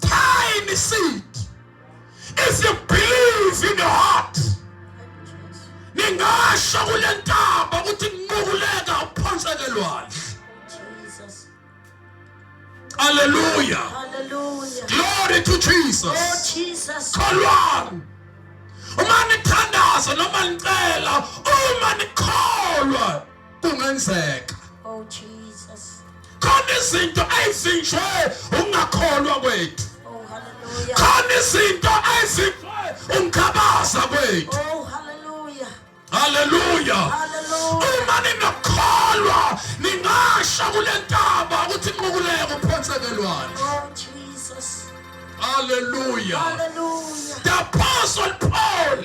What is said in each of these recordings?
Tiny seed. If you believe in your heart, ningasho kule ntaba ukuthi nqukuleka uphonseke lwandle. Hallelujah. Hallelujah. Glory to Jesus. Oh Jesus. Kholwani. Uma nithandaza noma nicela, uma nikholwa kungenzeka oh jesus khona izinto ezinje ungakholwa kwethu oh hallelujah khona izinto ezinje ungikhabaza kwethu oh hallelujah hallelujah hallelujah uma ninokholwa ningasha kulentaba ukuthi inqukuleko phonsekelwane oh jesus hallelujah hallelujah the apostle paul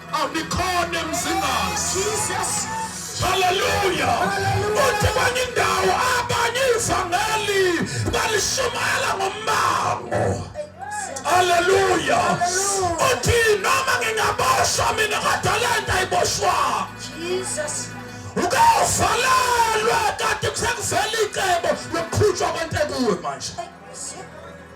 Abikhona emzingazi. Jesus. Hallelujah. Uthi kwenye indawo abanye ivangeli balishumayela ngombango. Hallelujah. Uthi noma ngingaboshwa mina kodwa lento ayiboshwa. Jesus. Ukavalelwa kanti kusakuvela icebo lokukhutshwa kwentekuwe manje.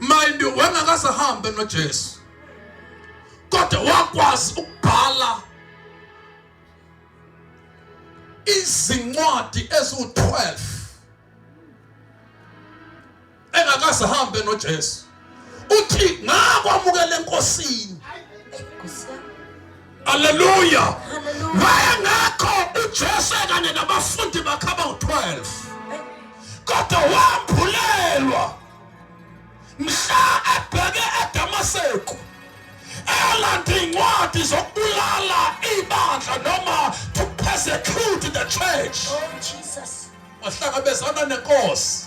mind you wengakasahambe noJesu kodwa wakwazi ukubhala izincwadi eziwu-12 engakasahambe noJesu uthi ngakwamukela enkosini haleluya waya ngakho ujesu kanye nabafundi bakhe abawu-12 kodwa wambhulelwa mhla ebheke edamaseku elanda iy'ncwadi zokubulala ibandla noma to persecute the church oh, wahlangabezana nenkosi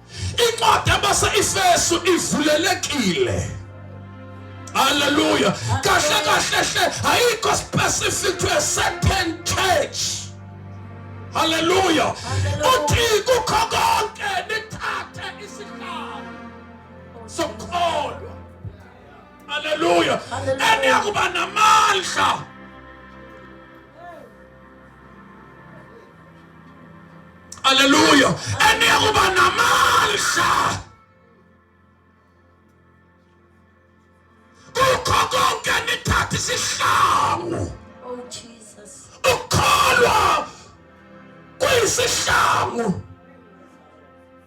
incwadi yabase-efesu ivulelekile haleluya kahle kahle hle ayikho specific to a certain church haleluya uthi kukho konke nithathe isihlalo sokukholwa haleluya eniyakuba namandla Haleluya. Eniyakuba namandla. Kukho konke nithatha isihlangu. Oh Jesus. Ukholwa kuyisihlangu.